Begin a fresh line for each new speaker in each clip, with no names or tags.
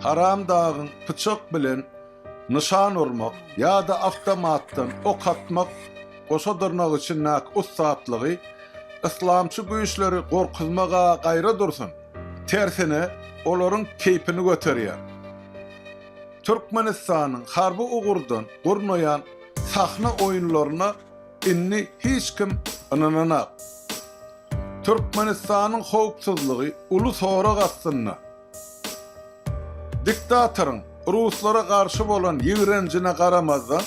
Haram dagyň pyçak bilen nyşan urmak ýa-da awtomatdan ok atmak goşa dyrnak içindäki ussatlygy yslamçy güýçleri gorkuzmaga gaýra dursun, tersine olaryň keýpini göterýär. Türkmenistanyň harby ugurdan gurnaýan sahna oýunlaryna indi hiç kim ynananak. Türkmenistanyň howpsuzlygy uly sorag astynda. Diktatoryň ruslara garşy bolan ýigrenjine garamazdan,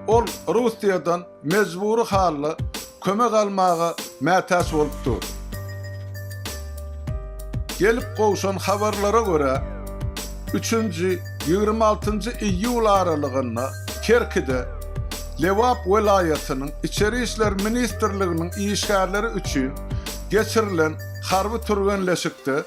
ol Russiýadan mejbury halda kömek almaga mätäç bolup dur. Gelip gowşan habarlara görä, üçünji, ýigrimi altynjy iýul aralygynda Kerkide Lebap welaýatynyň Içeri işler ministrliginiň işgärleri üçin geçirilen harby türgenleşikde,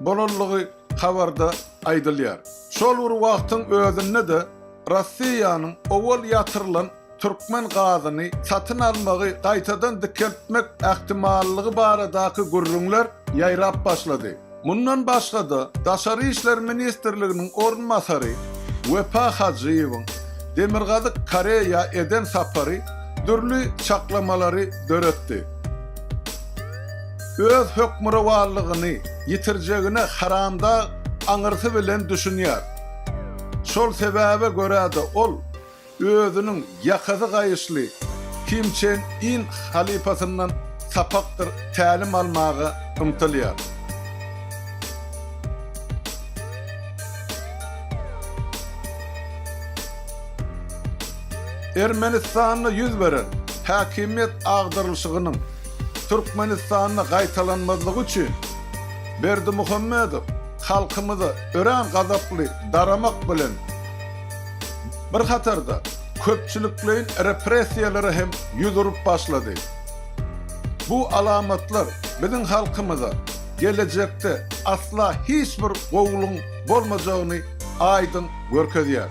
bolandygy habarda aýdylýar. Şol bir wagtyň özünde-de Rossiýanyň owal ýatyrylan türkmen gazyny satyn almagy gaýtadan dikeltmek ähtimallygy baradaky gürrüňler ýaýrap başlady. Mundan başga-da, Daşary işler ministrliginiň orunbasary Wepa Hajyýewiň Demirgazyk Koreýa eden sapary dürli çaklamalary döretdi. Öz hökmürowanlygyny ýitirjegine Haramdag aňyrsy bilen düşünýär. Şol sebäbe görä-de ol özüniň ýakasy gaýyşly Kim Çen In halypasyndan sapakdyr tälim almaga ymtylýar. Ermenistanda ýüz beren häkimiýet agdarylyşygynyň Türkmenistanda gaýtalanmazlygy üçin Berdimuhamedow halkymyza örän gazaply daramak bilen bir hatarda köpçülikleýin repressiýalara hem ýüz urup başlady. Bu alamatlar biziň halkymyza gelejekde asla hiç bir gowulygyň bolmajagyny aýdyň görkezýär.